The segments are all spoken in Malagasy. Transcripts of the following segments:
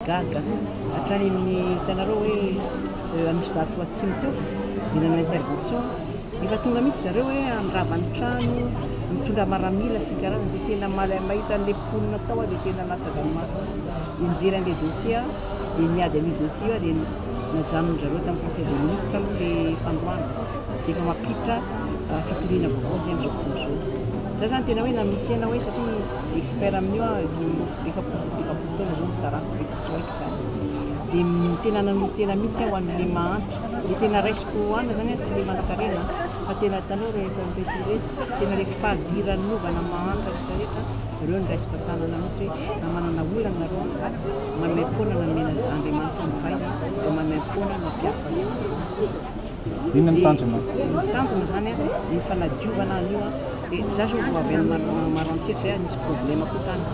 Gaga hatrany amin'ny hitanareo hoe an'io zato atsimo teo dia nanao intervention efa tonga mihitsy zareo hoe handrava ny trano mitondra maramila sy ny karazany dia tena malay mahita an'ilay mponina tao aho dia tena natsaka ny maso mihitsy dia nijery an'ilay dossier aho dia niady an'io dossier io aho dia najanony zareo tamin'ny conseil des ministres aloha ilay fandroana dia efa mampiditra fitoriana vaovao izay amin'izao fotoana izao za zany tena hoe nanolo-tena hoe satria expert amin'io aho efapolo efapolo taona zao nitsarako vita tsy ho haiko zany dia tena nanolo tena mihitsy aho an'le mahantra dia tena raisiko hoana zany tsy le manakarena fa tena tanao rehefa reto reto tena le fahadiran'ny novana mahantra rehetra rehetra ireo ny raisiko an-tanana mihitsy hoe na manana olana nareo manome foana na mena Andriamanitra ny fahaizana dia manome foana ny mpiaro fahazavana Inona ny tanjona? Ny tanjona zany an, ny fanadiovana an'io an, dia za zao vao avy any Maroantsetra zay an, nisy problème koa tany,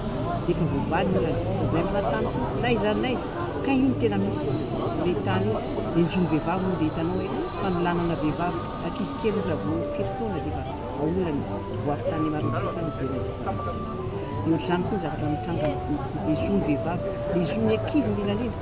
dia efa voavaly ny problème na tany koa, na aiza na aiza, kay io no tena misy, ilay tany io, dia ny zon'ny vehivavy moa dia hitanao hoe fanolanana vehivavy, ankizy kely ohatra vao fito taona dia efa aolana e, ho avy tany Maroantsetra aho nijery an'izay zavatra izay, dia ohatr'izany koa ny zavatra mitranga, ny zon'ny vehivavy, ny zon'ny ankizy indrindra indrindra.